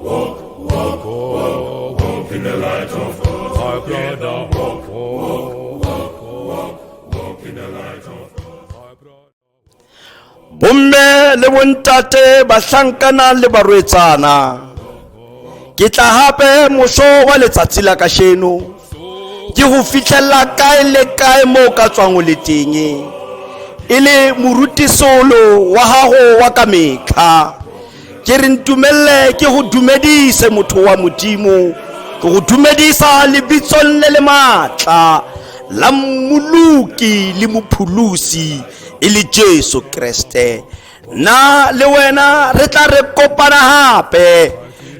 Walk, walk, walk, walk in the light of God. My brother, walk, walk, walk, walk, walk in the light of God. bomme le bontate bahlankana le barwetsana ke tla hape moso wa letsatsi la kasheno ke ho fitlhella kae le kae moo ka tswang o le teng e le morutisolo wa gago wa ka metlha ke re ntumelele ke go dumedise motho wa modimo ke go dumedisa lebitsong le le maatla la mmoloki le mopholosi e le jesu kreste na le wena re tla re kopana gape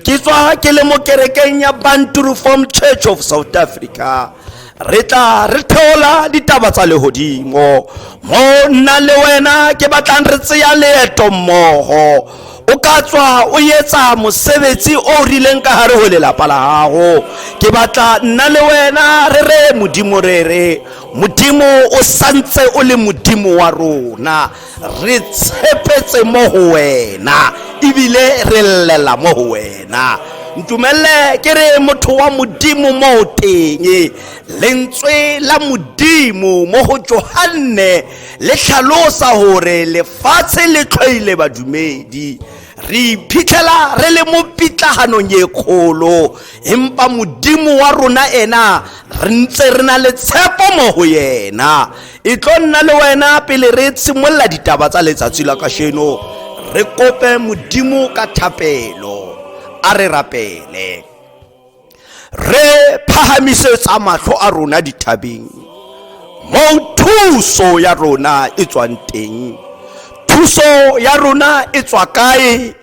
ke tswa ke le mo kerekeng ya banturuform church of south africa re tla re theola ditaba tsa legodimo mo nna le wena ke batlang re tseya leeto mmogo o ka tswa o etsa mosebetsi o rileng ka gare go lelapa la gago ke batla nna le wena re re modimo re re modimo o santse o le modimo wa rona re tshepetse mo go wena ebile re llela mo go wena ntumelele ke re motho wa modimo mo teng lentswe la modimo mo go johanne le tlhalosa gore lefatshe le tlhoile badumedi re iphitlhela re le mo pitlaganong e kgolo empa modimo wa rona ena re ntse re na le tshepo mo go yena e tlo nna le wena pele re tshimolola ditaba tsa letsatsi la kasheno re kope modimo ka thapelo a re rapele re phahamisetsa matlho a rona dithabeng moo thuso ya rona e tswang teng thuso ya rona e tswa kae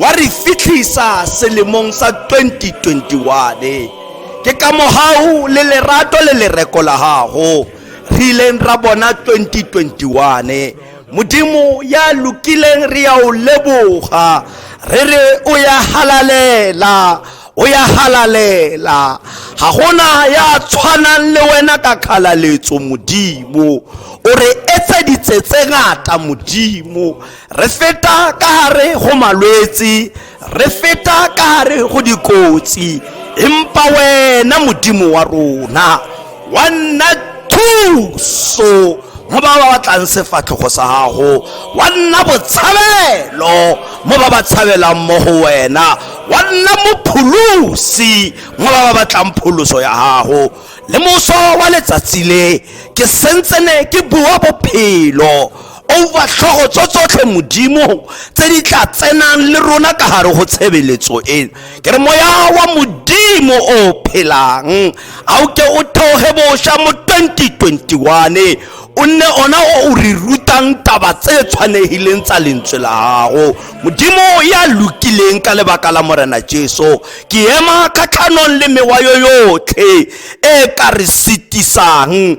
wa re fitlhisa selemong sa 2021 ke ka mogau le lerato le lereko la gago re ileng ra bona 2021 modimo ya lokileng re ya o leboga re re o ya halalela o ya halalela ga gona ya tshwanang le wena ka kgalaletso modimo o re etseditse tse ngata modimo Re feta ka gare go malwetse, re feta ka gare go dikotsi, empa wena Modimo wa rona wa nna thuso mo ba ba batlang sefatlhogo sa gago wa nna botshabelo mo ba ba tshabelang mo go wena wa nna mopholosi mo ba ba batlang pholoso ya gago le moso wa letsatsi le ke sentsene ke bua bophelo over tlhogo tso tsotlhe modimo tse di tla tsenang le rona ka gare go tshebeletso eno ke re moya wa modimo o phelang a o ke o theoge boša mo 2021 o nne ona o o re rutang taba tse tshwanegileng tsa lentswe la gago modimo ya lokileng ka lebaka la morena jesu ke ema kgatlhanong le mewa yo yotlhe e ka re sitisang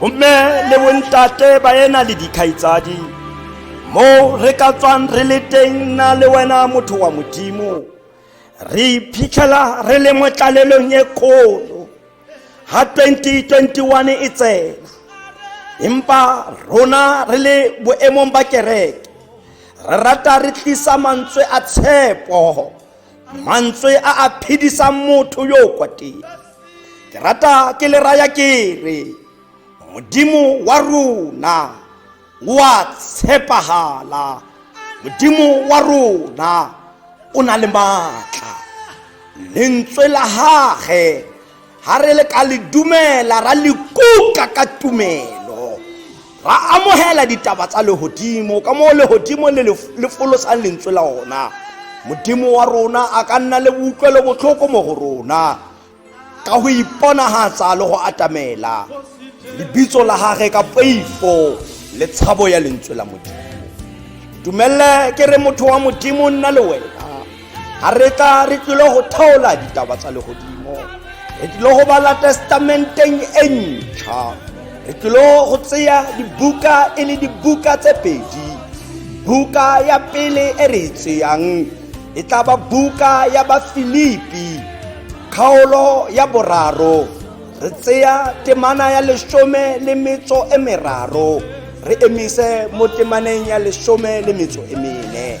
bomme le bontate ba ena le dikgaitsadi mo re ka tswang re le teng na le wena motho wa modimo re iphitlhela re le mo tlalelong e kgolo ga 2021 e tsena empa rona re le boemong ba kereke re rata re tlisa mantswe a tshepo mantswe a a phedisang motho yo kwa teng ke rata ke le raya ke re modimo wa rona o a tshepagala modimo wa rona o na le maatla lentswe la gage ga re le ka le dumela ra le kuka ka tumelo ra amogela ditaba tsa legodimo ka moo legodimo le le folosang lentswe la ona modimo wa rona a ka nna le boutlwelo botlhoko mo go rona ka go iponagatsa le go atamela lebitso la gage ka poifo le tshabo ya lentswe la modimo dumelele ke re motho wa modimo nna le wena ga re tla re tlile go thaola ditaba tsa legodimo re tlile go bala testamenteng e ntšha re tlile go tseya dibuka e le dibuka tse pedi buka ya pele e re e tseyang e tla ba buka ya bafilipi kgaolo ya boraro re tseya temana ya lesome le metso e meraro re emise mo temaneng ya lesome le metso e mene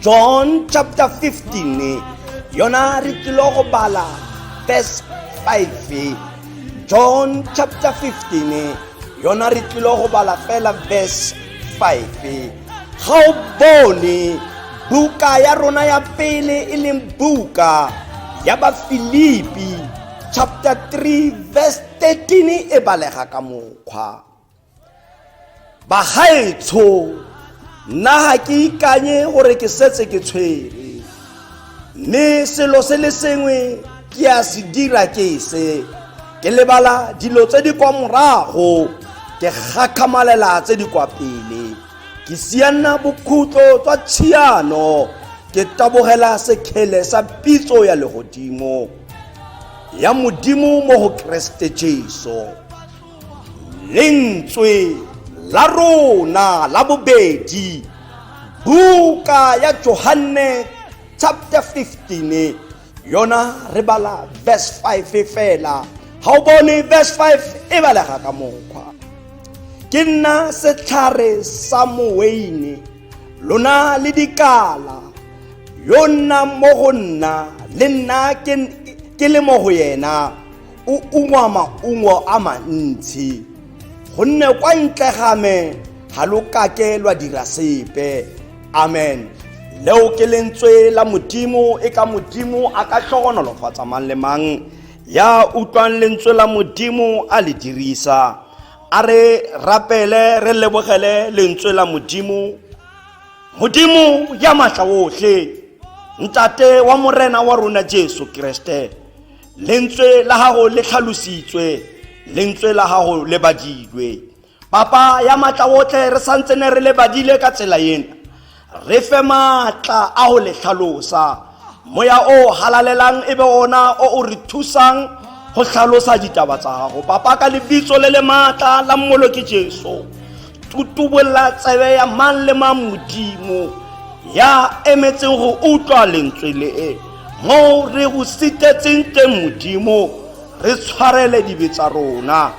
john chapter 15 yona re tlilo go bala verse 5 john chapter 15 yona re tlilo go bala fela verse 5 ga o bone buka ya rona ya pele e leng buka ya bafilipi chapter 3 verse 13 e balega ka mokgwa bagaetsho nna ga ke ikanye gore ke setse ke tshwere mme selo se le sengwe ke a se dira ke se ke lebala dilo tse di kwa morago ke gakgamalela tse di kwa pele ke sianna bokhutlo tswa tshiano ke tabogela sekgele sa pitso ya legodimo ya modimo mo go keresete jesu lentswe la rona la bobedi buka ya johanne chapter 15 yona re bala verse 5 fela ga o bone verse 5 e balega ka mokgwa ke nna setlhare sa moweine lona le dikala yo nnang mo go nna le nna ke le mo go yena o ungwa maungo a mantsi gonne kwa ntle ga me ga lo kake lwa dira sepe amen leo ke lentswe la modimo e ka modimo a ka tlhogonolofatsa mang le mang ya utlwang lentswe la modimo a le dirisa a re rapele re lebogele lentswe la modimo modimo ya maatla otlhe ntate wa morena wa rona jesu kreste lentswe la gago le tlhalositswe lentswe la gago le badilwe papa ya maatla otlhe re santse ne re le badile ka tsela ena re fe maatla a go le tlhalosa moya o halalelang e be ona o o re thusang go tlhalosa ditaba tsa gago papa ka lebitso le le maatla la mmoloki jesu tutubolla tsebe ya mang le mang modimo ya emetseng go utlwa lentswe le e moo re go sitetseng teng modimo re tshwarele dibe tsa rona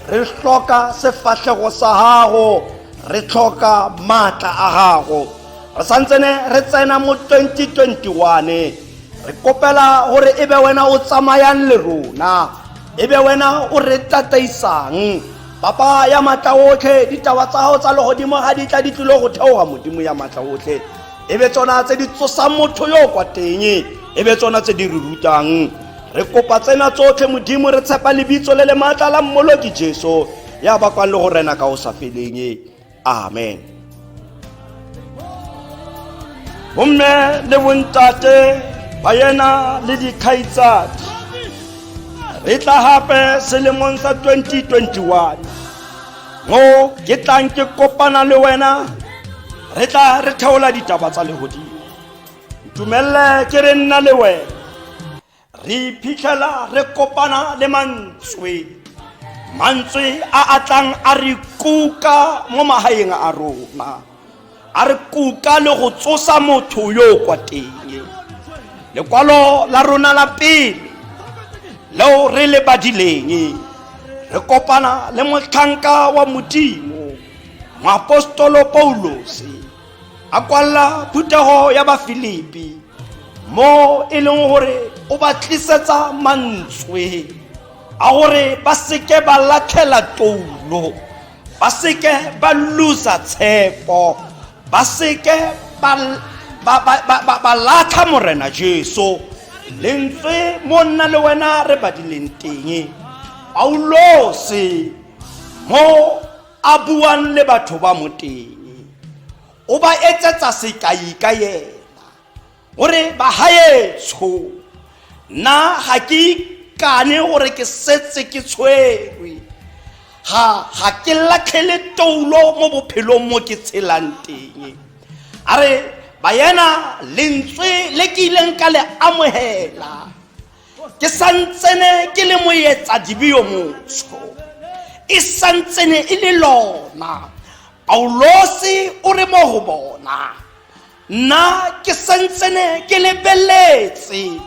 re hloka sefahlego sa gago re tlhoka maatla a gago re santsene re tsena mo 2021 re kopela gore e be wena o tsamayang le rona e be wena o re tataisang Papa ya matla otlhe ditaba tsa gago tsa legodimo ga di tla di tlile go theoga modimo ya matla otlhe e be tsona tse di tsosang motho yo o kwa teng e be tsona tse di re rutang re kopa tsena tsotlhe modimo re tshepa lebitso le le maatla la mmoloki jesu ya bakwang le go rena ka o sa feleng amen bomme le bontate ba yena le dikgaitsadi re tla gape selemong sa 2021 mo ke tlang ke kopana le wena re tla re theola ditaba tsa legodimo ntumelele ke re nna le wena re iphitlhela re kopana le mantswe mantswe a a tlang a re kuka mo magaeng a rona a re kuka le go tsosa motho yo o kwa teng lekwalo la rona la pele leo re le badileng re kopana le motlhanka wa modimo moapostolo paulose a kwalla phuthego ya bafilipi mo e leng gore o ba tlisetsa mantswe a gore ba seke ba latlhela toulo ba seke ba losa tshepo ba seke ba latlha morena jesu lentswe mo nna le wena re badileng teng paulose mo a buang le batho ba mo teng o ba etsetsa sekai ka yena gore bagaetsho nna ga ke ikane gore ke setse ke tshwerwe ga ga ke latlhele toulo mo bophelong mo ke tshelang teng a re bayena lentswe le ke ileng ka le amogela ke santsene ke le moetsa dibio motsho e santsene e le lona paulose o re mo go bona nna ke santsene ke lebeletse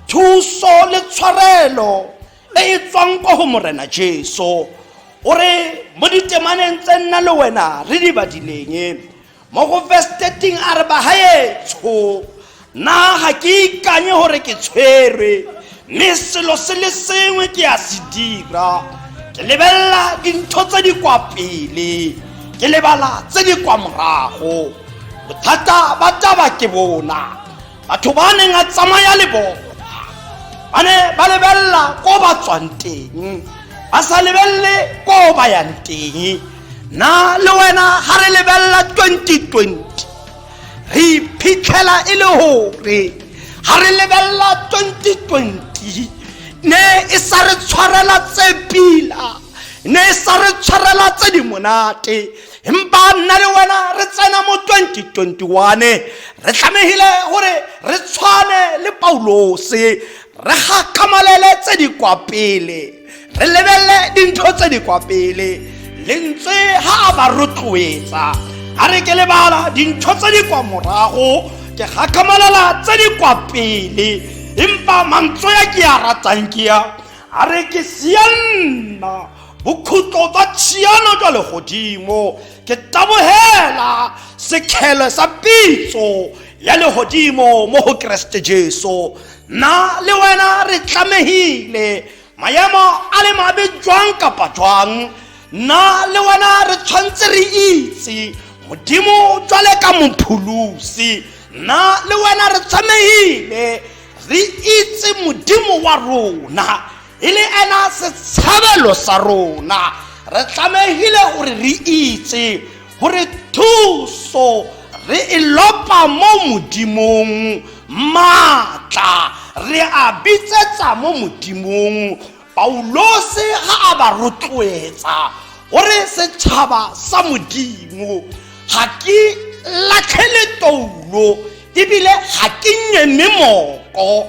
thuso le tshwarelo e e tswang kwa go morena jesu o re mo ditemaneng tse nna le wena re di badileng mo go verse 13 a re bagaetsho na ga ke ikanye gore ke tshwerwe mme selo se le sengwe ke a se dira ke lebelela dintho tse di kwa pele ke lebala tse di kwa morago bothata ba taba ke bona batho ba neng a tsamaya le bone ba ne ba lebelela ko ba tswang teng ba sa lebelele ko ba yang teng na le wena ga re lebelela 2020 re iphitlhela e le gore ga re lebelela 2020 ne e sa re tshwarela tse pila ne e sa re tshwarela tse di monate empa nna le wena re tsena mo 2021 re tlamegile gore re tshwane le paulose re gakgamalele tse di kwa pele re lebelele dintho tse di kwa pele lentswe ga a ba rotloetsa a re ke lebala dintho tse di kwa morago ke gakgamalela tse di kwa pele empa mantswe a ke a ratang ke a a re ke sianna bokhutlo jwa tshiano jwa legodimo ke tabogela sekgele sa pitso ya legodimo mo go keresete jesu nna le wena re tlamegile maemo a le mabe jwang kapa jwang nna le wena re tshwanetse re itse modimo jwale ka mopholosi nna le wena re tshwanegile re itse modimo wa rona e le ena setshabelo sa rona re tlamegile gore re itse gore thuso re e lopa mo modimong maatla re a bitsetsa mo modimong paulose ga a ba rotloetsa gore setšhaba sa modimo ga ke latlhele toulo ebile ga ke nyeme moko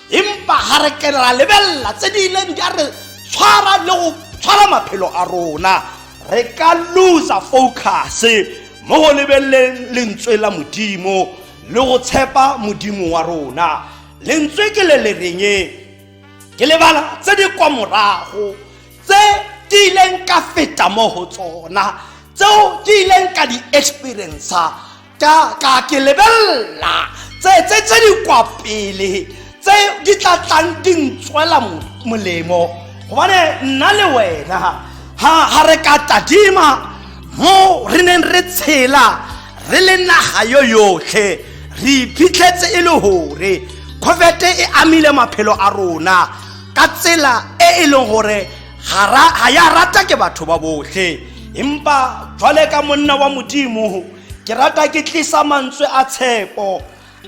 empa ga re ke ra lebelela tse di ileng di a re tshwara le go tshwara maphelo a rona re ka losa focus mo go lebeleleng lentswe la modimo le go tshepa modimo wa rona lentswe ke le le reng ke lebala tse di kwa morago tse ke ileng ka feta mo go tsona tseo ke ileng ka di experiencer ka ka ke lebelela tse tse tse di kwa pele tse di tla tlang di ntswela mo- molemo gobane nna le wena ga ga re ka tadima mo re neng re tshela re le naga yo yotlhe re iphitlhetse e le gore covid e amile maphelo a rona ka tsela e e leng gore ga ra- ga ya rata ke batho ba botlhe empa jwale ka monna wa modimo ke rata ke tlisa mantswe a tshepo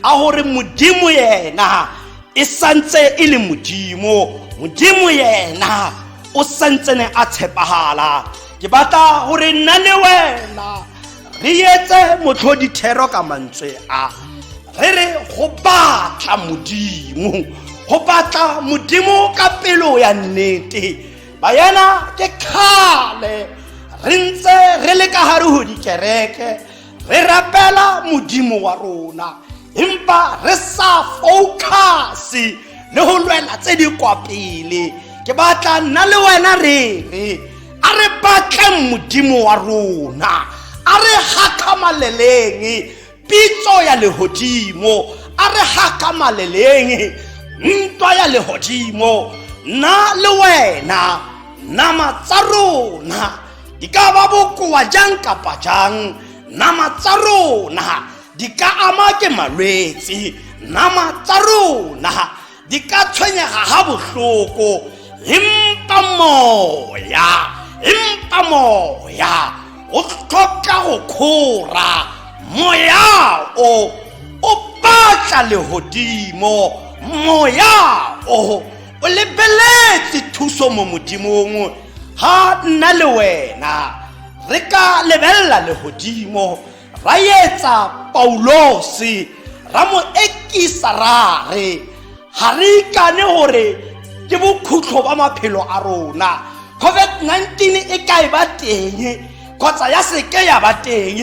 a gore modimo yena e santse e le modimo modimo yena o santsene a tshepagala ke batla gore nna le wena re etse motlhodithero ka mantswe a re re go batla modimo go batla modimo ka pelo ya nnete bayana ke kgale re ntse re le ka gare go dikereke re rapela modimo wa rona empa re sa focuse le go lwela tse di kwa pele ke batla nna le wena re re a re batleng modimo wa rona a re gakgamaleleng pitso ya lehodimo a re gakamaleleng ntwa ya lehodimo nna le wena nama tsa rona di ka ba bokoa jang kapa jang nama tsa rona di ka ama ke malwetse nama tsa rona di ka tshwenyega ga bohloko empa moya empa moya o tlhoka go kgora moya o o batla legodimo moya o o lebeletse thuso mo modimong ga nna le wena re ka lebelela legodimo ra etsa paulose ra mo ekisa ra re ga re ikane gore ke bokhutlo ba maphelo a rona covid-19 e ka e ba teng kgotsa ya seke ya ba teng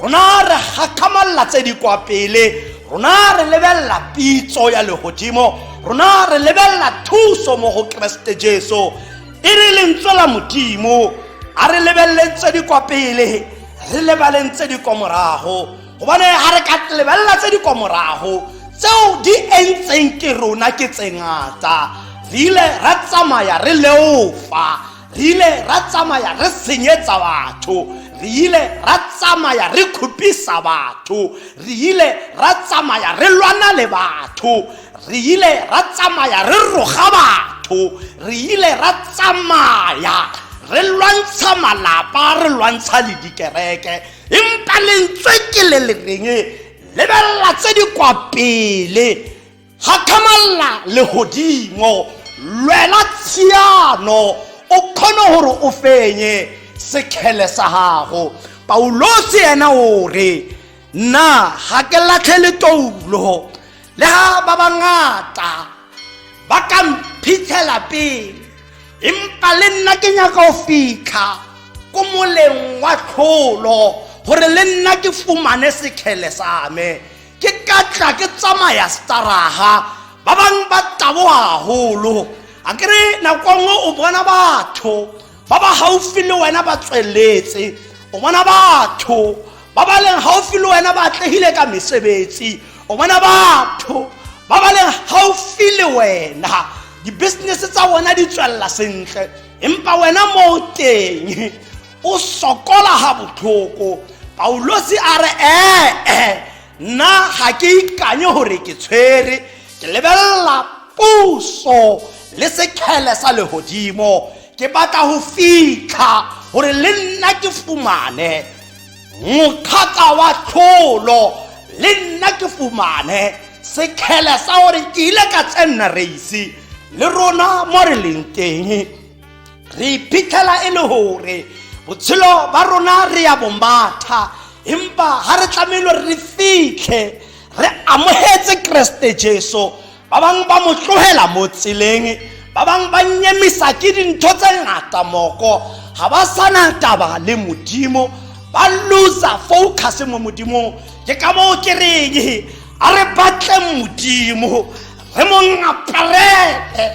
rona re gakgamalela tse di kwa pele rona re lebelela pitso ya legodimo rona re lebelela thuso mo go keresete jesu e re lentswe la modimo a re lebeleleng tse di kwa pele re lebaleng tse di kwa morago gobane ga re ka lebelela tse di kwa morago tseo di entseng ke rona ke tse ngata re ile ra tsamaya re leofa re ile ra tsamaya re senyetsa batho re ile ra tsamaya re khupisa batho re ile ra tsamaya re lwana le batho re ile ra tsamaya re roga batho re ile ra tsamaya re lwantsha malapa re lwantsha le dikereke empa lentswe ke le le reng lebelela tse di kwa pele gakgamalla legodimo lwela tshiano o kgone gore o fenye sekgele sa gago paulosi ena o re nna ga ke latlhe letoulo le ga ba bangata ba ka mphitshela pele empa le nna ke nyaka go fitlha ko moleng wa tlholo gore le nna ke fumane sekgele sa me ke ka tla ke tsamaya staraga ba bangwe ba taboga golo a kere nako nngwe o bona batho ba ba gaufi le wena ba tsweletse o bona batho ba ba leng gaufi le wena ba atlegile ka mesebetsi o bona batho ba ba leng gaufi le wena di-business tsa bona di tswelela sentle empa wena moo teng o sokola ga botlhoko paulosi a re ee nna ga ke ikanye gore ke tshwere ke lebelela puso le sekgele sa legodimo ke batla go fitlha gore le nna ke fumane mokgata wa tlholo le nna ke fumane sekgele sa gore ke ile ka tsenna reise le rona mo re leng teng re iphitlhela e le gore botshelo ba rona re ya bombatha empa ga re tlamelo re fitlhe re amogetse keresete jesu ba bangwe ba mo tlogela mo tseleng ba bangwe ba nyemisa ke dintho tse ngata moko ga ba sana taba le modimo ba loser focus mo modimong ke ka moo ke reng a re batle modimo re mo ngaparele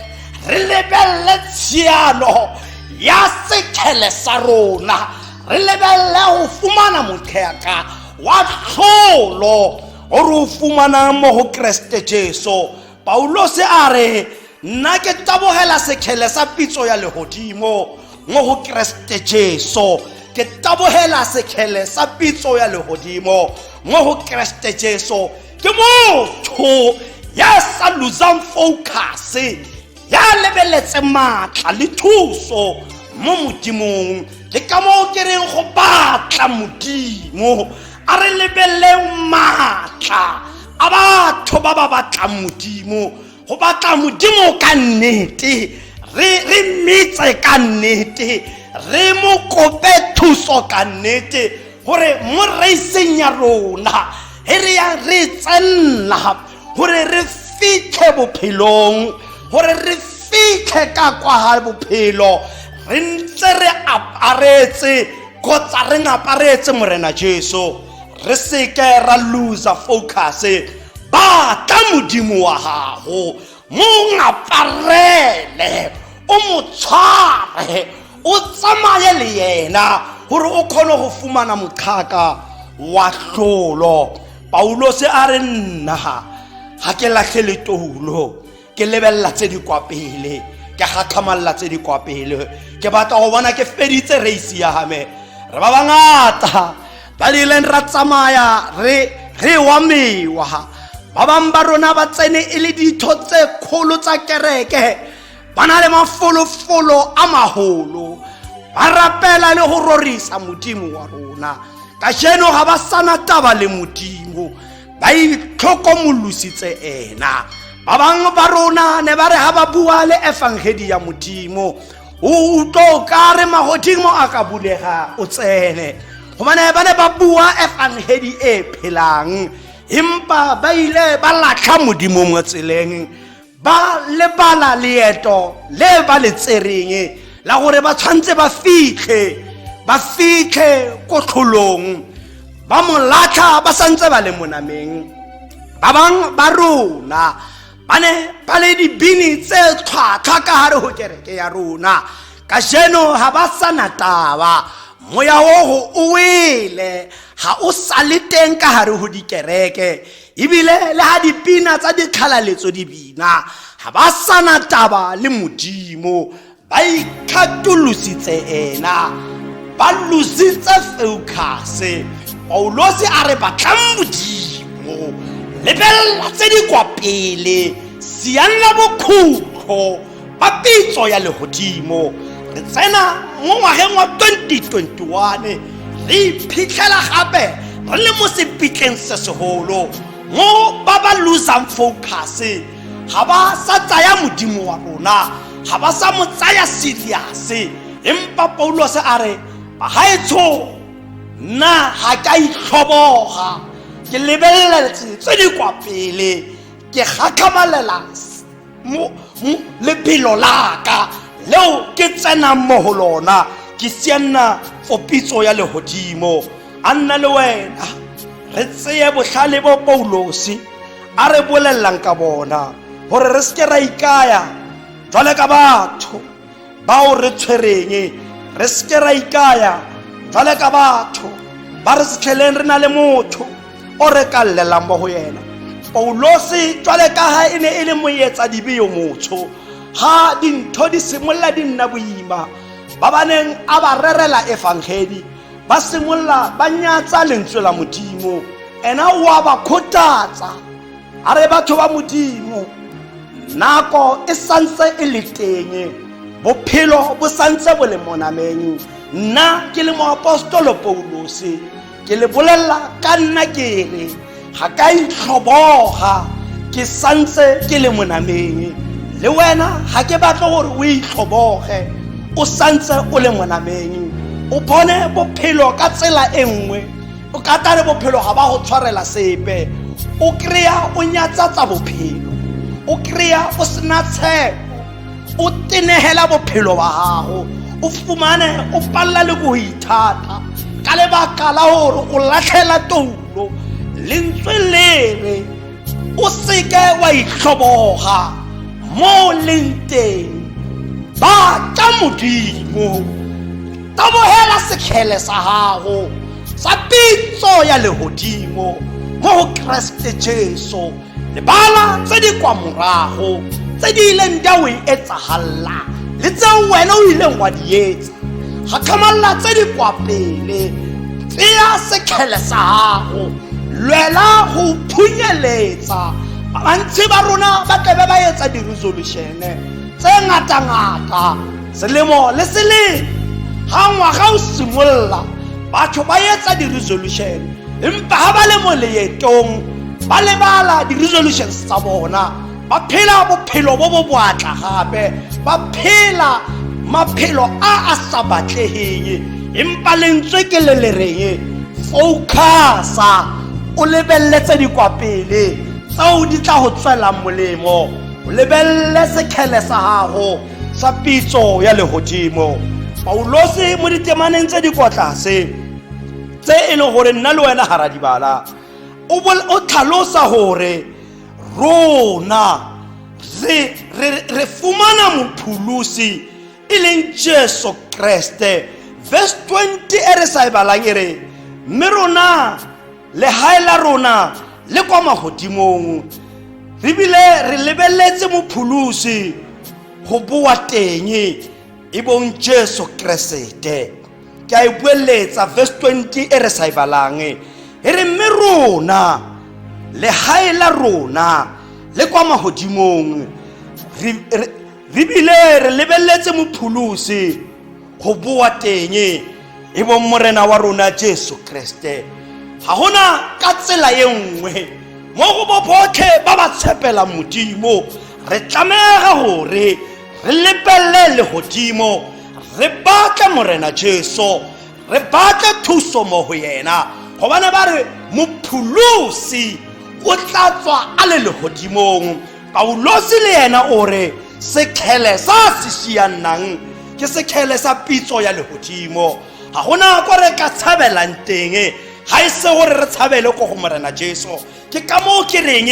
re lebelele tshiano ya sethele sa rona re lebelele go fumana motheka wa tlholo o re o fumanang mo go keresete jesu paulose a re nna ke tabogela sekgele sa pitso ya legodimo mo go keresete jesu ke tabogela sekgele sa pitso ya legodimo mo go keresete jesu ke motho ya sa losang focuse ya lebeletse maatla le thuso mo modimong le ka moo ke reng go batla modimo a re lebeleleng maatla a batho ba ba batlang modimo go batla modimo ka nnete re mmitse ka nnete re mo kope thuso ka nnete gore mo reiseng ya rona he re yang re tsenela gore re fitlhe bophelong gore re fitlhe ka kwa ga bophelo re ntse re aparetse kgotsa re ngaparetse morena jesu re seke ra loser focus batla modimo wa gago mo ngaparele o mo tshware o tsamaye le yena gore o kgone go fumana moqhaka wa tlolo paulose a re nna ga ke latlhe letoulo ke lebelela tse di kwa pele ke gatlhamalela tse di kwa pele ke batla go bona ke feditse race ya game re ba bangata ba rileng ra tsamaya re re wa mewa ba bangwe ba rona ba tsene e le ditho tse kgolo tsa kereke ba na le mafolofolo a magolo ba rapela le go rorisa modimo wa rona ka jeno ga ba sana taba le modimo ba itlhokomolositse ena ba bangwe ba rona ne ba re ga ba bua le efangedi ya modimo o utlo ka re magodimo a ka bulega o tsene gobane ba ne ba bua efangedi e phelang empa ba ile ba latlha modimo mo tseleng ba lebala leeto le ba le tsereng la gore ba tshwanetse ba fitlhe ba fitlhe ko tlholong ba mo latlha ba santse ba le monameng ba bangwe ba rona ba ne ba le dibini tse tlhwatlhwa ka gare go kereke ya rona ka jeno ga ba sa na taba moya ogo o wele ga o sa le teng ka gare go dikereke ebile le ga dipina tsa dikgalaletso di bina ga ba sana taba le modimo ba ikgatolositse ena ba lositse feukase paulose a re batlang modimo lebelela tse di kwa pele sianla bokhutlo ba pitso ya legodimo re tsena mo ngwageng wa 2021 re iphitlhela gape re le mo sepitleng se segolo mo ba ba losang focus ga ba sa tsaya modimo wa rona ga ba sa mo tsaya serious empa paulose a re bagaetsho nna ga ka itlhoboga ke lebeleletse tse di kwa pele ke gakgamalela mo lebelo la ka leo ke tsenang mo go lona ke sianna for pitso ya legodimo a nna le wena re tseye botlhale bo paulose a re bolelelang ka bona gore re seke ra ikaya jwale ka batho bao re tshwereng re seke ra ikaya jwale ka batho ba re setlheleng re na le motho o re ka llelang mo go yena paulose jwale ka ga e ne e le moetsa dibe yo motsho ga dintho di simolola di nna boima ba ba neng a ba rerela efangedi ba simolola ba nyatsa lentswe la modimo ena wa ba kgothatsa a re batho ba modimo nako e santse e le teng bophelo bo santse bo le monameng nna ke le moapostolo paulose ke le bolelela ka nna ke re ga ka itlhoboga ke santse ke le monameng le wena ga ke batle gore o itlhoboge o santse o le monameng o bone bophelo ka tsela e nngwe o ka tare bophelo ga ba go tshwarela sepe o kry-a o nyatsatsa bophelo o kry-a o sena tshepo o tenegela bophelo ba gago o fumane o palela le ko go ithata ka lebaka la gore o latlhela toulo lentswe lere o seke wa itlhoboga mo o leng teng ba ka modimo tabogela sekgele sa gago sa pitso ya legodimo mo go keresete jesu lebala tse di kwa morago tse di ileng di a o e etsagalela le tseo wena o ileng wa di etsa ga tlhomalela tse di kwa pele tseya sekgele sa gago lwela go phunyeletsa bantsi ba rona ba tlebe ba etsa di-resolution-e tse ngata-ngata selemo le selemo ga ngwaga o simolola batho ba etsa di-resolution empa ga ba le mo leetong ba lebala di-resolutions tsa bona ba phela bophelo bo bo boatla gape ba phela maphelo a a sa batlegeng empa lentswe ke le le reng focasa o lebeletse di kwa pele tseo di tla go tswelang molemo o lebelele sekgele sa gago sa pitso ya legodimo paulose mo ditemaneng tse di kwa tlase tse e leng gore nna le wena garadibala o bol- o tlhalosa gore rona re- re re fumana mopholosi e leng jesu kreste verse 20 e re sa e balang e re mme rona legae la rona le kwa magodimong re bile re lebeletse mopholosi go boa teng e bong jesu keresete ke a e bueletsa verse 20 e re sa e balang e re mme rona legae la rona le kwa magodimong re bile re lebeletse mopholosi go boa teng e bong morena wa rona jesu kreste ga gona ka tsela e nngwe mo go bo botlhe ba ba tshepela modimo re tlamega gore re lepelele legodimo re batle morena jesu re batle thuso mo go yena gobane ba re mopholosi o tla tswa a le legodimong Paulosi le yena o re sekgele sa se siannang ke sekgele sa pitso ya legodimo ga gona ko re ka tshabelang teng ga e se gore re tshabele ko go morena jesu ke ka moo ke reng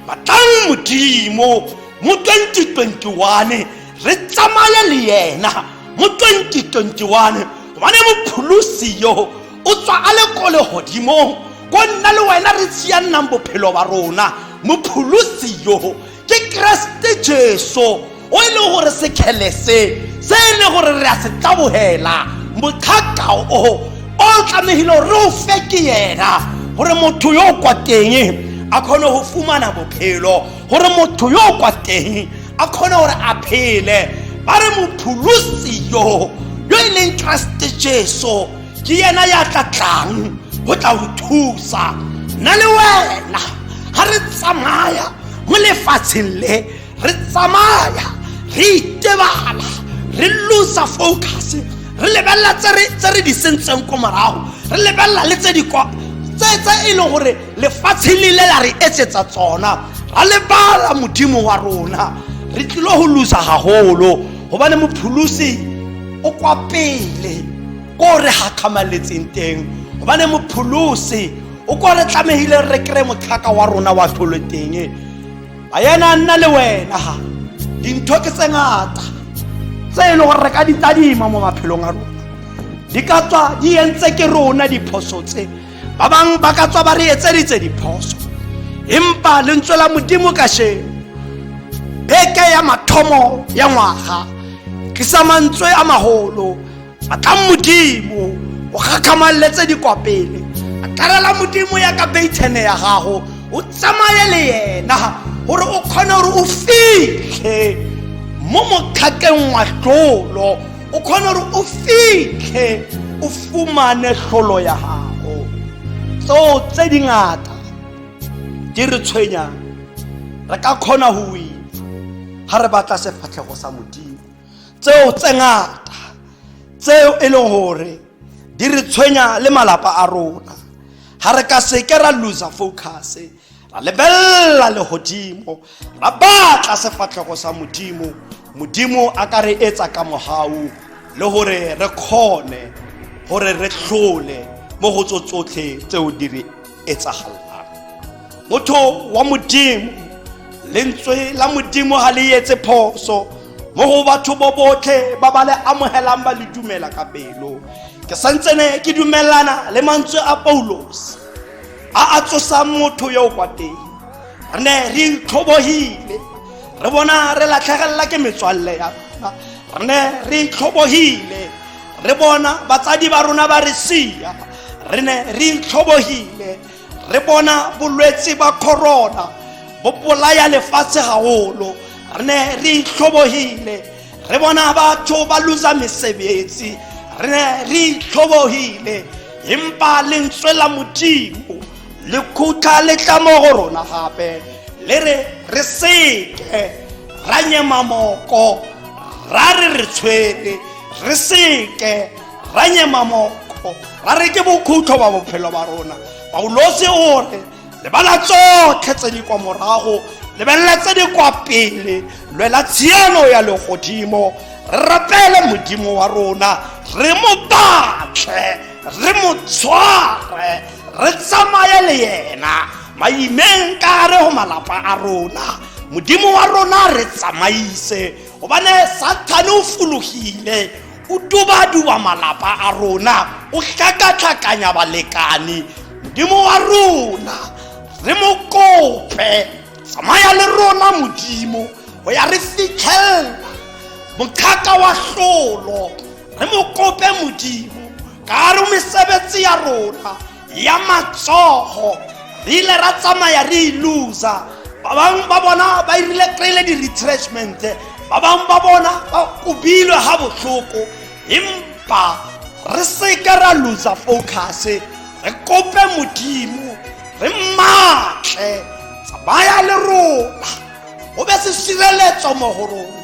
batlang modimo mo 2021 re tsamaye le yena mo 2021 gobane mopholosi yo o tswa a le ko legodimong ko nna le wena re tsiyannang bophelo ba rona mopholosi yo ke keresete jesu o e leng gore sekgele se se e leng gore re a se tlabogela motlhakao o o tlamegile gore re o fe ke yena gore motho yo o kwa teng a kgone go fumana bophelo gore motho yo o kwa teng a kgone gore a phele ba re mopholosi yo yo e leng keresete jesu ke yena ya tla tlang go tla go thusa nna le wena ga re tsamaya mo lefatsheng le re tsamaya re itebala re losa focus re lebelela tse re di sentseng ko morago re lebelela le tse di kwa tse tse e leng gore lefatshe le ile la re etsetsa tsona ra lebala modimo wa rona re tlile go losa gagolo gobane mopholosi o kwa pele ko re gakgamaletseng teng gobane mopholosi o ko re tlamegile re kry motlhaka wa rona wa tlholo teng a yena a nna le wena dintho ke tse ngata tse e le gore re ka ditadima mo maphelong a rona di ka tswa di entse ke rona diphoso tse ba bang ba ka tswa ba re etseditse diphoso empa lentswe la modimo kasheno beke ya mathomo ya ngwaga tlisa mantswe a magolo a tla modimo o gakgamaletse dikwapele a tlarela modimo ya ka beitshene ya gago o tsamaye le yena gore o kgone gore o fitlhe mo mokgakeng wa tlolo o kgone gore o fitlhe o fumane tlholo ya gago tseo tse dingata di re tshwenyang re ka kgona go wina ga re batla sefatlhego sa modimo tseo tse ngata tseo e leng gore di re tshwenya le malapa a rona ga re ka seke ra loser focus ra lebelela legodimo ra batla sefatlhego sa modimo modimo a ka re etsa ka mogau le gore re kgone gore re tlhole mo go tso tsotlhe tseo di re etsagalang motho wa modimo lentswe la modimo ga le etse phoso mo go batho bo botlhe ba ba le amogelang ba le dumela ka pelo ke santsene ke dumelana le mantswe a paulos a a tsosang motho yo o kwa teng re ne re itlhobogile re bona re latlhegelela ke metswalle ya rona re ne re itlhobogile re bona batsadi ba rona ba re sia re ne re itlhobogile re bona bolwetse ba corona bo bolaya lefatshe gagolo re ne re itlhobogile re bona batho ba lusa mesebetsi re ne re itlhobogile empa lentswe la modimo le khutha le tla mo go rona gape le re re seke ra nyema moko ra re re tshwere re seke ra nyema moko ra re ke bokhutlo ba bophelo ba rona paulosi o re lebala tsotlhe tse di kwa morago lebelela tse di kwa pele lwela tshiano ya legodimo re rapele modimo wa rona re mo batlhe re mo tshware re tsamaye le yena maimeng ka re go malapa a rona modimo wa rona re tsamaise gobane sathane o fologile o dubaduba malapa a rona o tlhakatlhakanya balekane modimo wa rona re mo kope tsamaya le rona modimo go ya re fitlhelela mothata wa tlolo re mo kope modimo ka re mesebetsi ya rona ya matsogo re ile ra tsamaya re e loser ba bangwe ba bona ba irile kry-ile di-retrenchment ba bangwe ba bona ba kobilwe ga botlhoko empa re seka ra loser focus re kope modimo re matle tsamaya le rona o be se sireletso mo go rona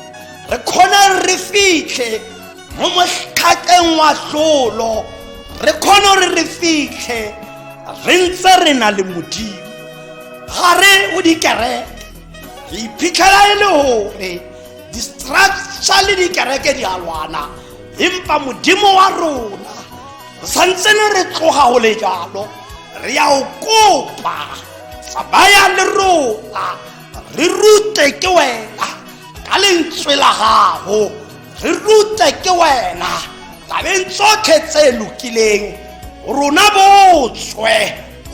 re kgone re fitlhe mo motlhakeng wa tlolo re kgone gore re fitlhe re ntse re na le modimo gare o dikereke re iphitlhela e le gore distructure le dikereke di a lwana empa modimo wa rona re santsene re tloga go le jalo re ya o kopa tsamaya le rona re rute ke wena ka lentswe la gago re rutle ke wena tabeng tsotlhe tse lokileng rona botswe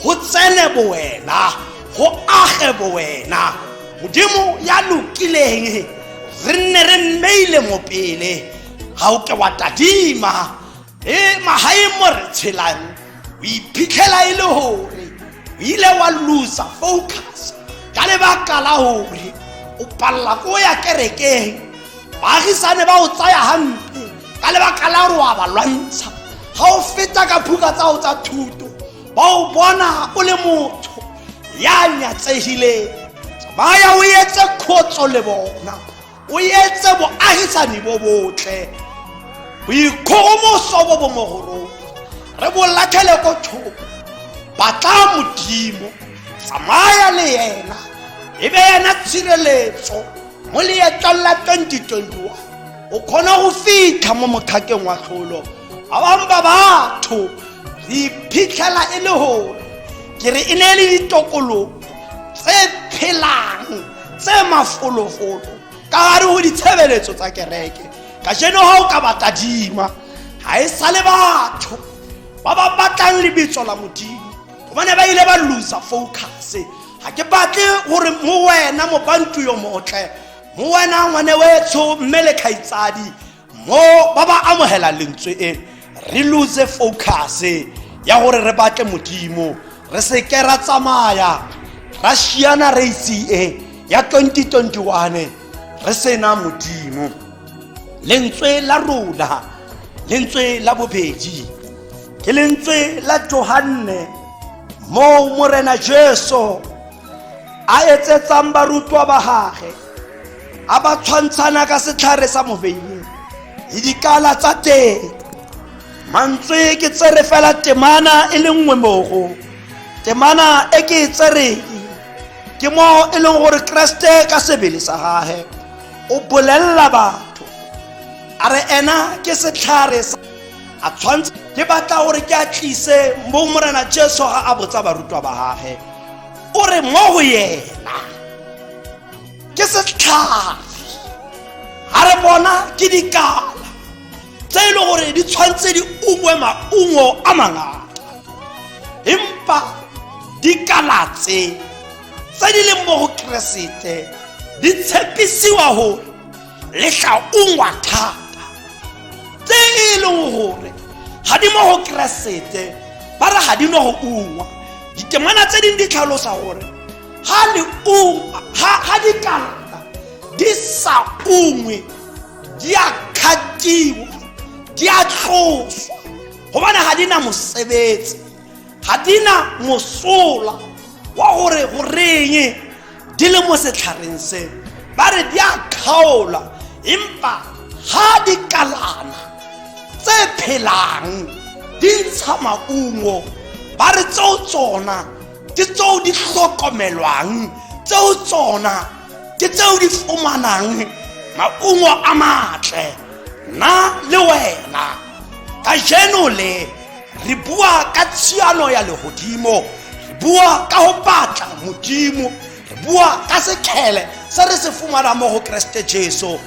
go tsene bowena go age bowena modimo ya lokileng re nne re mmeile mopele ga o ke wa tadima e magaeng mo re tshelang o iphitlhela e le gore o ile wa losa focus ka lebaka la gore o palela ko ya kerekeng baagisane ba o tsaya gampe ka lebaka la gore wa ba lwantsha ga o feta ka phuka tsago tsa thuto ba o bona o le motho ya nyatsegileng tsamaya o etse khotso le bona o etse boagisani bo botle boikgogomoso bo bo mogorong re bo latlhele ko thoko batla modimo tsamaya le yena e be yena tshireletso mo leetlong la 2021 o kgone go fitlha mo mokgakeng wa tlholo ba bangwe ba batho re iphitlhela e le gore ke re e ne e le ditokologo tse phelang tse mafolofolo ka gare go ditshebeletso tsa kereke ka jeno ga o ka ba tadima ga e sa le batho ba ba batlang lebitso la modimo gobane ba ile ba losa focus ga ke batle gore mo wena mobantu yo motle mo wena ngwane wetsho mme le kgaitsadi mo ba ba amogela lentswe e re lose focus ya gore re batle modimo re seke ra tsamaya ra shiana race e ya 2021 re sena modimo lentswe la rona lentswe la bobedi ke lentswe la johanne moo morena jesu a etsetsang barutwa ba gage a ba tshwantshana ka setlhare sa moveine le dikala tsa teng mantswe ke tsere fela temana e le nngwe mogo temana e ke e tsereng ke mo e leng gore keresete ka sebele sa gage o bolelela batho a re ena ke setlhare sa a tshwanetse ke batla gore ke a tlise mo morena jesu ga a botsa barutwa ba gage o re mo go yena ke setlhare ga re bona ke dikala tse e le gore di tshwanetse di ungwe maungo a mangata empa dikala tse tse di leng mo go keresete di tshepisiwa gore le tla ungwa thata tse e leng gore ga di mo go keresete ba re ga di no go ungwa ditemana tse dingwe di tlhalosa gore ga le ungwa ga di kalata di sa ungwe di a kgatiwa di a tloswa gobane ga di na mosebetsi ga di na mosola wa gore go reng di le mo setlhareng se ba re di a kgaola empa ga di kalana tse phelang di ntsha maungo ba re tseo tsona ke tseo di tlhokomelwang tseo tsona ke tseo di fumanang maungo a matle nna le wena kajeno le re bua ka tshiano ya legodimo re bua ka go batla modimo re bua ka sekgele se re se fumanang mo go keresete jesu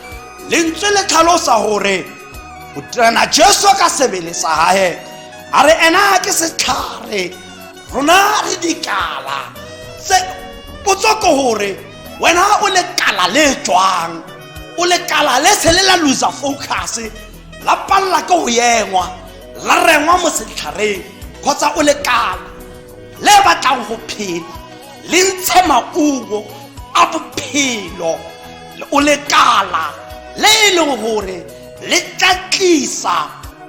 lentswe le tlhalosa gore boterana jesu ka sebele sa gae a re ena ke setlhare rona re dikala se potso ke gore wena o lekala le tswang o lekala le se le la loser focus la palela ke go yengwa la rengwa mo setlhareng kgotsa o lekala le batlang go phela le ntshe maungo a bophelo o lekala le e leng gore le tla tlisa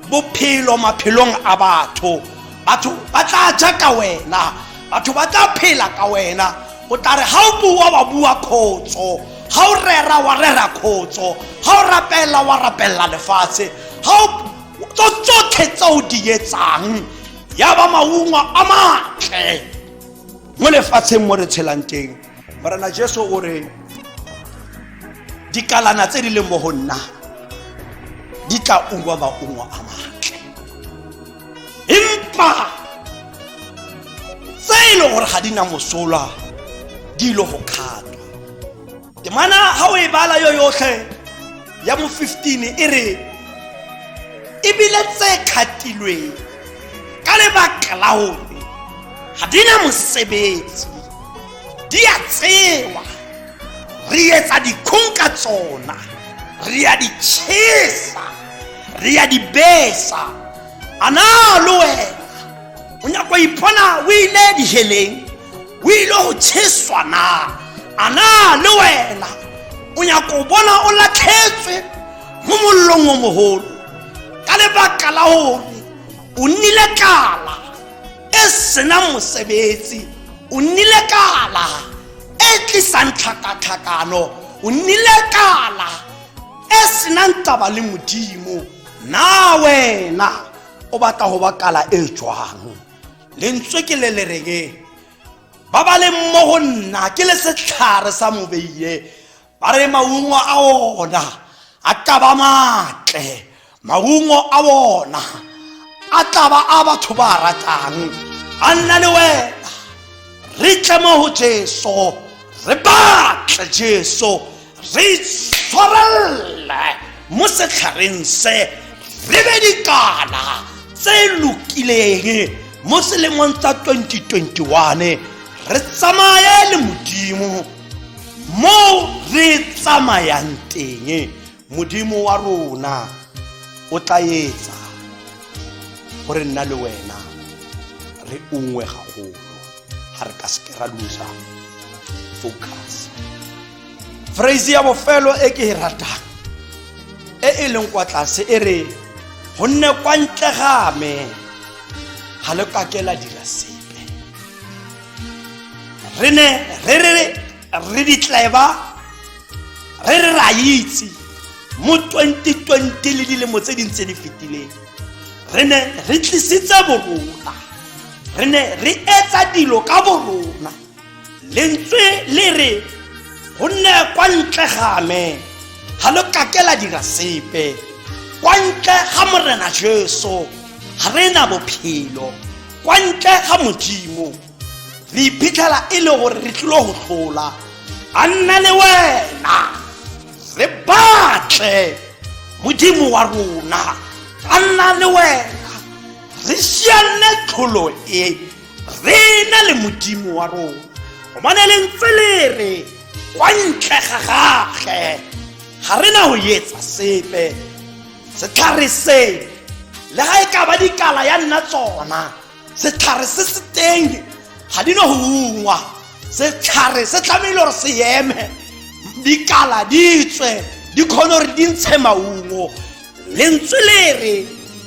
bophelo maphelong a batho batho ba tla ja ka wena batho ba tla phela ka wena o tla re ga o bua wa bua khotso ga o rera wa rera khotso ga o rapela wa rapella lefatshe ga o tso tsotlhe tse o di etsang ya ba maungo a matle mo lefatsheng mo re tshelang teng morena jesu o re dikalana tse di leng mo go nna di tla ungwa maungo a matle empa tse e leng gore ga di na mosola di ile go kgatwa temana ga o e bala yo yotlhe ya mo 15 e re ebile tse kgatilweng ka lebaka la gore ga di na mosebetsi di a tsewa re etsa dikgong ka tsona re a di chesa re a di besa a na le wena o nyako ipona o ile diheleng o ile go cheswa na a na le wena o nyako bona o latlhetswe mo mollong o mogolo ka lebaka la gore o nnile kala e sena mosebetsi o nnile kala e tlisang tlhakatlhakano o nnile kala e senang taba le modimo na wena o batla go ba kala e jwang lentswe ke le le reng ba ba leng mo go nna ke le setlhare sa mobeiye ba re maungo a ona a ka ba matle maungo a ona a tla ba a batho ba ratang a nna le wena re tle mo go jesu re batle jesu re itshwarelle mo setlhareng se re be dikala tse lokileng mo selemong sa 2021 re tsamaye le modimo mo re tsamayang teng modimo wa rona o tla etsa gore nna le wena re ungwe gagolo ga re ka seke ra losa focus phrase ya bofelo e ke e ratang e e leng kwa tlase e re gonne kwa ntle ga me ga le kake la dira sepe re ne re re re ditleba re re ra itse mo 2020 le dilemo tse dintse di fetileng re ne re tlisitse borona re ne re etsa dilo ka borona lentswe le re go nne kwa ntle game ga lo kake la dira sepe kwa ntle ga morena jesu ga re na bophelo kwa ntle ga modimo re iphitlhela e le gore re tlilo go tlola a nna le wena re batle modimo wa rona a nna le wena re sianne tlholo e re na le modimo wa rona gobane le ntse le re kwa ntle ga gage ga re na go etsa sepe setlhare se le ga e ka ba dikala ya nna tsona setlhare se se teng ga di no go ungwa setlhare se tlamehile gore se eme dikala di tswe di kgone gore di ntshe maungo lentswe le re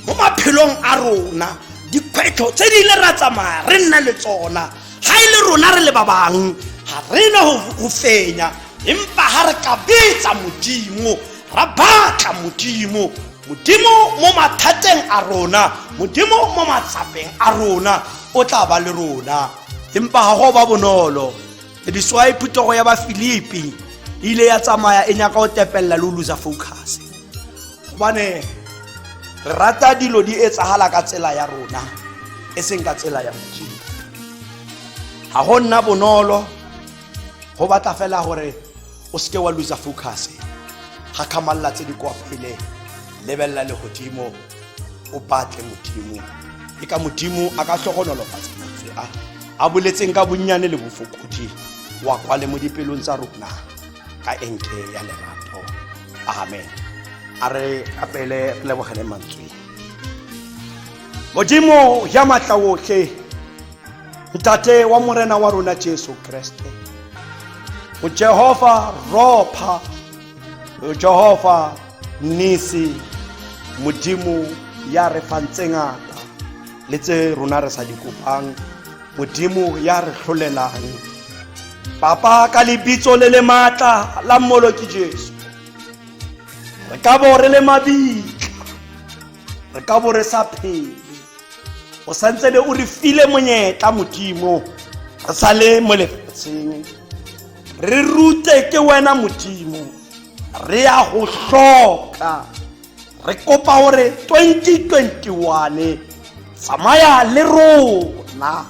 mo maphelong a rona dikgwetlho tse di ile ra tsamaya re nna le tsona ga e le rona re le ba bangwe ga re na go fenya empa ga re ka betsa modimo ra batla modimo modimo mo mathateng a rona modimo mo matsapeng a rona o tla ba le rona empa ga go ba bonolo leswae phutogo ya bafilipi e ile ya tsamaya e nyaka go tepelela le o losa focus gobane re rata dilo di etsagala ka tsela ya rona e seng ka tsela ya modimo ga go nna bonolo go batla fela gore o seke wa losa focus ga kgamalela tse di kwa pele lebelela legodimo o batle modimo e ka modimo a ka tlhogonolofatsa mantswe a a boletseng ka bonnyane le bofokodi wa kwale mo dipelong tsa rona ka enke ya lerato amen a re apele re lebogele mantswe modimo ya matla otlhe ntate wa morena wa rona jesu kreste o jehova ropha jehova nnisi modimo ya re fang tse ngata le tse rona re sa di kopang modimo ya re tlholelang papa ka lebitso le le maatla la mmolo ke jesu re ka bo re le mabitla re ka bo re sa phele o santse be o re file monyetla modimo re sa le mo lefatsheng re rute ke wena modimo re ya go hloka re kopa gore 2021 tsamaya le rona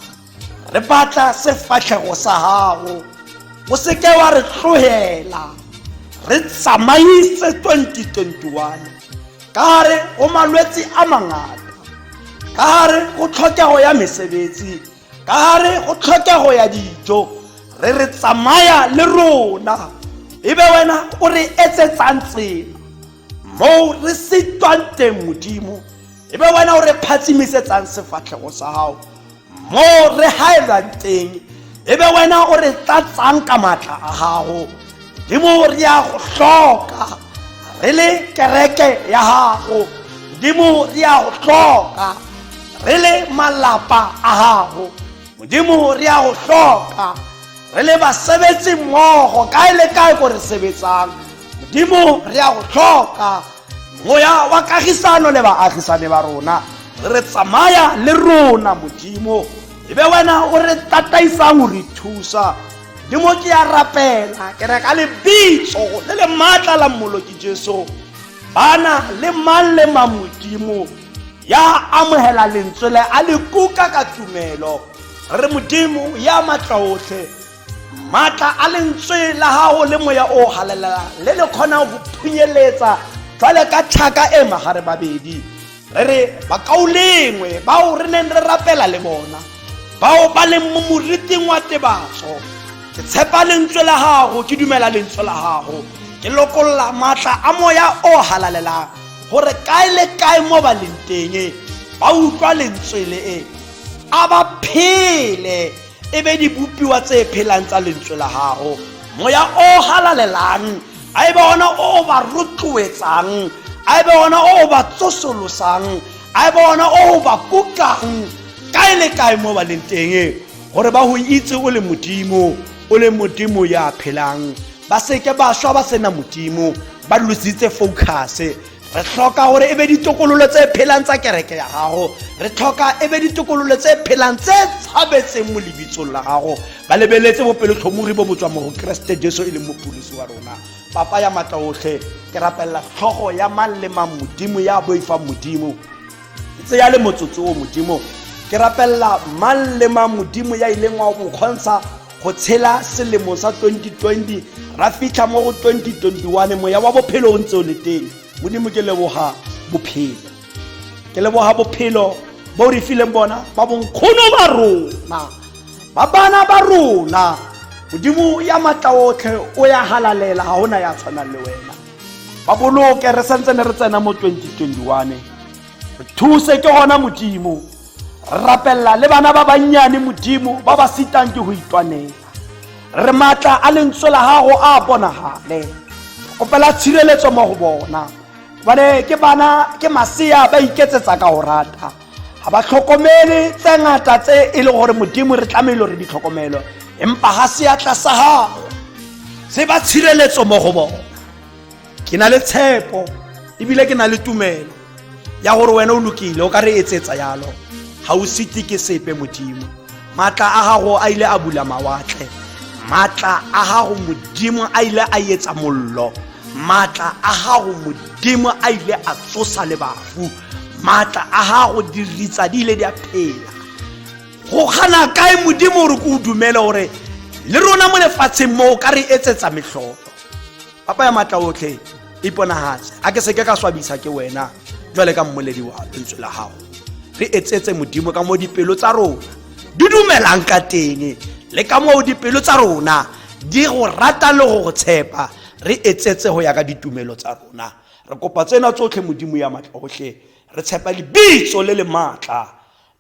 re batla sefatlhego sa gago o seke wa re tlogela re tsamaise 2021 ka gare go malwetse a mangata ka gare go tlhokego ya mesebetsi ka gare go tlhokego ya dijo re re tsamaya le rona ebe wena o re etsetsang tsela moo re sitwang teng modimo ebe wena o re phatsimisetsang sefatlhego sa gago moo re gaelwang teng ebe wena o re tlatsang ka maatla a gago modimo re ya go hloka re le kereke ya gago modimo re ya go hloka re le malapa a gago modimo re ya go hloka re le basebetsi mmogo kae le kae ko re sebetsang modimo re ya go hloka moya wa kagisano le baagisane ba rona re tsamaya le rona modimo e be wena o re tataisang o re thusa le mo ke ya rapela ke reka lebitso le le maatla la mmoloki jesu bana le mang le mang modimo ya amogela lentswe le a le kuka ka tumelo re modimo ya matla otlhe maatla a lentswe la gago le moya o galelela le le kgonang go phunyeletsa jwale ka tlhaka e magare babedi re re bakaolengwe bao re neng re rapela le bona bao ba leng mo moriting wa tebatso ke tshepa lentswe la gago ke dumela lentswe la gago ke lokolola maatla a moya o halalelang gore kae le kae mo ba leng teng ba utlwa lentswe le e a ba phele e be dibopiwa tse phelang tsa lentswe la gago moya o halalelang a e be ona o o ba rotloetsang a e be ona o o ba tsosolosang a e be ona o o ba kukang kae le kae mo ba leng teng gore ba go itse o le modimo o le modimo ya phelang ba seke ba swa ba sena modimo ba lositse focuse re tlhoka gore e be ditokololo tse phelang tsa kereke ya gago re tlhoka e be ditokololo tse phelang tse tshabetseng mo lebitsong la gago ba lebeletse bopelotlhomogi bo botswa mo go keresete jesu e leng mopholisi wa rona papa ya maatla otlhe ke rapelela tlhogo ya mang le mang modimo ya boifang modimo e tse ya le motsotso o modimo ke rapelela mang le mang modimo ya ileng wa bokgontsha go tshela selemo sa 2020 ra fitlha mo go 2021 moya wa bophelo o ntse o le teng modimo ke leboga bophelo ke leboga bophelo bo re fileng bona ba bonkgono ba rona ba bana ba rona modimo ya matla otlhe o ya halalela ga ona ya tshwanang le wena ba boloke re santse ne re tsena mo 2021 re thuse ke gona modimo rapelela le bana ba bannyane modimo ba ba sitang ke go itwanela re maatla a lentswe la gago a bonagale kopela tshireletso mo go bona bane ke bana ke masea ba iketsetsa ka go rata ga ba tlhokomele tse ngata tse e le gore modimo re tlamehile re di tlhokomelo empa ga seatla sa gago se ba tshireletso mo go bona ke na le tshepo ebile ke na le tumelo ya gore wena o lokile o ka re etsetsa yalo ga o sete ke sepe modimo maatla a gago a ile a bula mawatle maatla a gago modimo a ile a etsa mollo maatla a gago modimo a ile a tsosa le bafu maatla a gago diritsa di ile di a phela go kgana kae modimo gore ke o dumele gore le rona mo lefatsheng moo ka re etsetsa metlholo papa ya matla otlhe iponagatse a ke seke ka swabisa ke wena jwale ka mmoledi wa lentswe la gago re etsetse modimo ka mo dipelo tsa rona di dumelang ka teng le ka moo dipelo tsa rona di go rata le go go tshepa re etsetse go ya ka ditumelo tsa rona re kopa tsena tsotlhe modimo ya matlhotlhe re tshepa lebitso le le maatla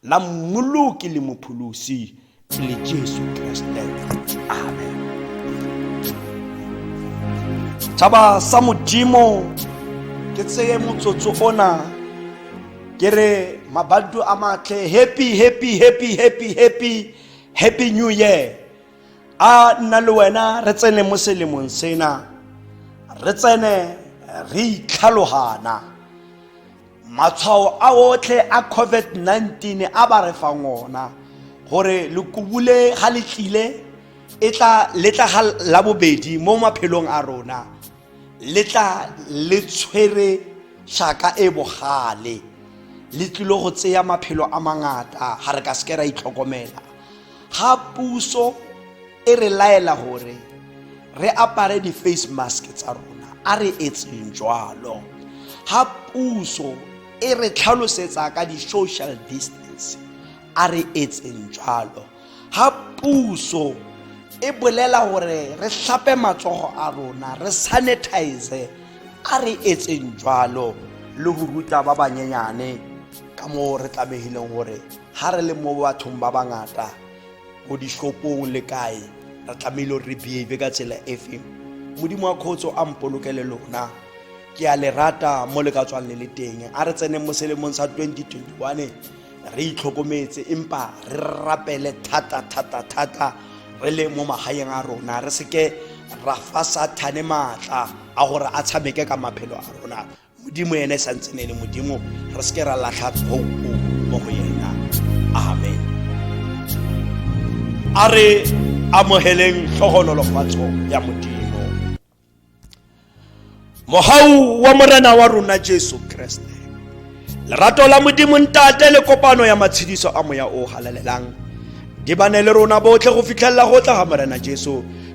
la mmoloki le mopholosi e le jesu kreste amen tšhaba sa modimo ke tseye motsotso ona ke re mabadu a matlhe happy happy happy happy happy happy new year a nna le wena re tsene mo selemong sena re tsene re itlhalogana matshwao a otlhe a covid-19 a ba re fang ona gore lekubule ga le tlile e tla letla ga la bobedi mo maphelong a rona le tla le tshwere shaka e bogale le tlile go tseya maphelo a mangata ga re ka seke ra itlhokomela ga puso e re laela gore re apare di-face mask tsa rona a re etseng jalo ga puso e re tlhalosetsa ka di-social distance a re etseng jalo ga puso e bolela gore re tlhape matsogo a rona re sanitize a re etseng jalo le go ruta ba banyenyane ka moo re tlamegileng gore ga re le mo bathong ba bangata ko dishopong le kae re tlamehile re behave ka tsela e feng modimo wa kgotso a mpolokele lona ke a le rata mo le ka tswang le le teng a re tseneng mo selemong sa 2021 re itlhokometse empa re rapele thata thata thata re le mo magaeng a rona re seke ra fa sathane maatla a gore a tshameke ka maphelo a rona modimo ene e santse ne le modimo re seke ra latlha tshou mo go yena amen a re amogeleng tlhogonolofatso ya modimo mogau wa morena wa rona jesu kreste lerato la modimo ntate le kopano ya matshediso a moya o halalelang di bane le rona botlhe go fitlhelela go tla ga morena jesu